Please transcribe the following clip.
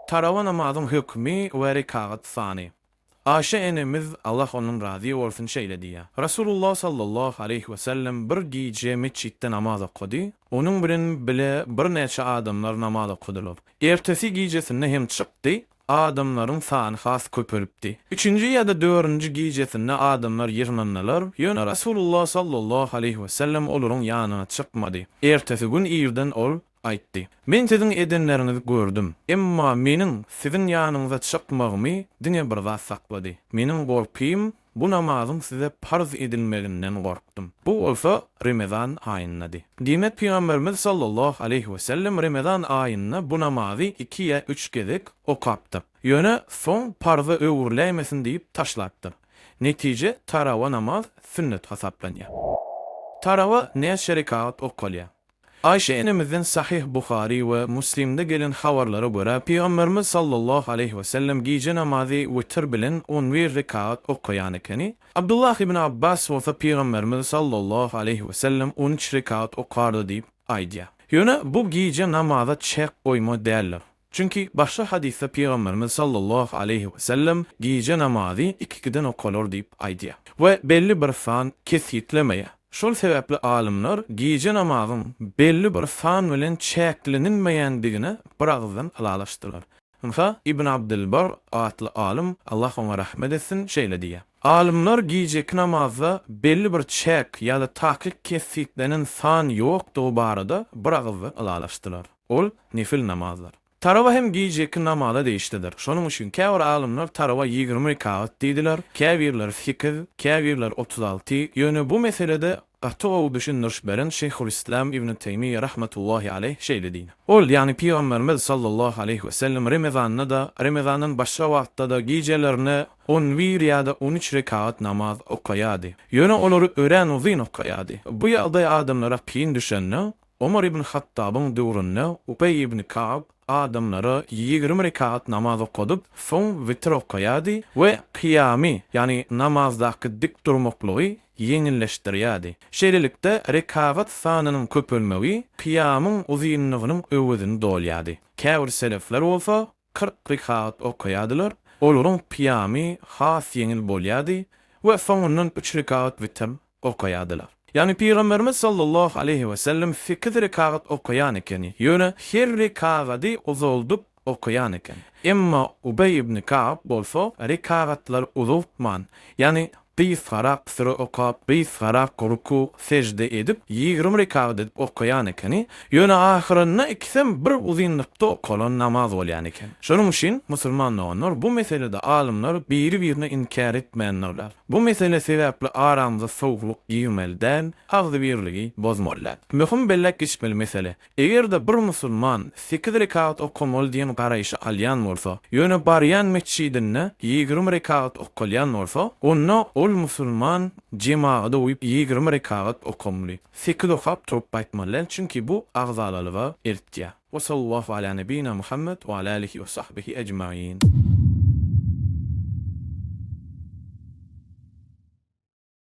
Tarawa namazyň hökmi we rekagat sany. Aişe enemiz, Allah ondan razy bolsun, şeýle diýýär, Resulullah sallallahu aleýhi wesellem bir gije metjitde namaz okady, onuň bilen bile birnäçe adamlar namaz okadylar. Ertesi gijesinde hem çykdy, adamlaryň sany has köpelipdi. Üçünji ýa-da dördünji gijesinde adamlar ýygnandylar, ýöne Resulullah sallallahu aleýhi wesellem olaryň ýanyna çykmady. Ertesi gün irden ol Aýtdy. Men siziň edenleriňizi gördüm. Emma meniň siziň ýanyňyza çykmagymy diňe bir zat saklady. Meniň gorkym, bu namazyň size parz edilmeginden gorkdum. Bu bolsa Remezan aýyndady. Diýmek, Pygamberimiz sallallahu aleýhi wesellem Remezan aýynda bu namazy iki ýa üç gezek okapdyr. Ýöne soň parza öwrüläýmesin diýip taşlapdyr. Netije, tarawa namaz sünnet hasaplanýar. Tarawa näçe rekagat okalýar? Aýşe enemizden Sahyh Buhary we Müslimde gelen habarlara görä, Pygamberimiz sallallahu aleýhi wesellem gije namazy witr bilen on bir rekat okaýan ekeni. Abdullah ibn Abbas bolsa Pygamberimiz sallallahu aleýhi wesellem on üç rekat okardy diýip aýdýar. Ýöne bu gije namaza çäk goýma däldir. Çünki başga hadysda Pygamberimiz sallallahu aleýhi we sellem gije namazy ikikiden okalar diýip aýdýar we belli bir san kesgitlemeýär. Şol sebäpli alymlar gije namazyň belli bir san bilen çäklenilmeýändigine bir agyzdan ylalaşdylar. Ynha, Ibn Abdylbar atly alym, Allah oňa rahmet etsin, şeýle diýýär, Alymlar gijeki namazda belli bir çäk ýa-da takyk kesgitlenen san ýokdugy barada bir agyzdan ylalaşdylar. Ol, nefil namazdyr. Tarawa hem gije iki namaza degişlidir. Şonuň üçin käbir alymlar tarawa ýigrimi rekagat diýdiler, käbirleri sekiz, käbirleri otuz alty, ýöne bu meselede gaty gowy düşündiriş beren Şeýhulyslam Ibnu Teýmiýe rahmetullahi aleýh şeýle diýdi, Ol, ýagny Pygamberimiz sallallahu aleýhi we sellem remezanda-da, remezandan başga wagtda-da gijelerine on bir ýa-da on üç rekagat namaz okaýardy. Ýöne olary örän uzyn okaýardy. Bu ýagdaý adamlara kyn düşende, Omar ibn Hattabyň döwründe Ubeý ibn Kab adamlara ýigrimi rekat namaz okadyp, soň witir okaýardy we kyýamy, ýagny namazdaky dik durmaklygy ýeňilleşdirýärdi. Şeýlelikde, rekagat sanynyň köpelmegi kyýamyň uzynlygynyň öwezini dolýardy. Käbir selefler bolsa, kyrk rekat okaýardylar, olaryň kyýamy has ýeňil bolýardy we soňundan üç rekat witir okaýardylar. Ýagny Pygamberimiz sallallahu aleýhi wesellem sekiz rekat okaýan eken, ýöne her rekagady uzaldyp okaýan eken. Emma Ubeý ibn Kab bolsa rekagatlary uzaltman, ýagny gysgarak süre okap, gysgarak ruku, sežde edip, ýigrimi rekagat edip okaýan ekeni, ýöne ahyrynda ikisem bir uzynlykda okalan namaz bolýan eken. Şonuň üçin, musulman doganlar, bu meselede alymlar biri-birine inkär etmändirler. Bu mesele sebäpli aramyza sowuklyk girmeli däl, agzybirligi bozmaly däl. Möhüm belläp geçmeli mesele, Eger-de bir musulman sekiz rekat okamaly diýen garaýşy alýan bolsa, ýöne barýan metjidinde ýigrimi rekat okalýan bolsa, onda ol musulman jemagada uýup ýigrimi rekagat okamly. Sekiz okap turup gaýtmaly däl, çünki bu agzalalyga eltýär. Wa sallallahu ala nebina Muhammed wa ala alihi wa sahbihi ejmain.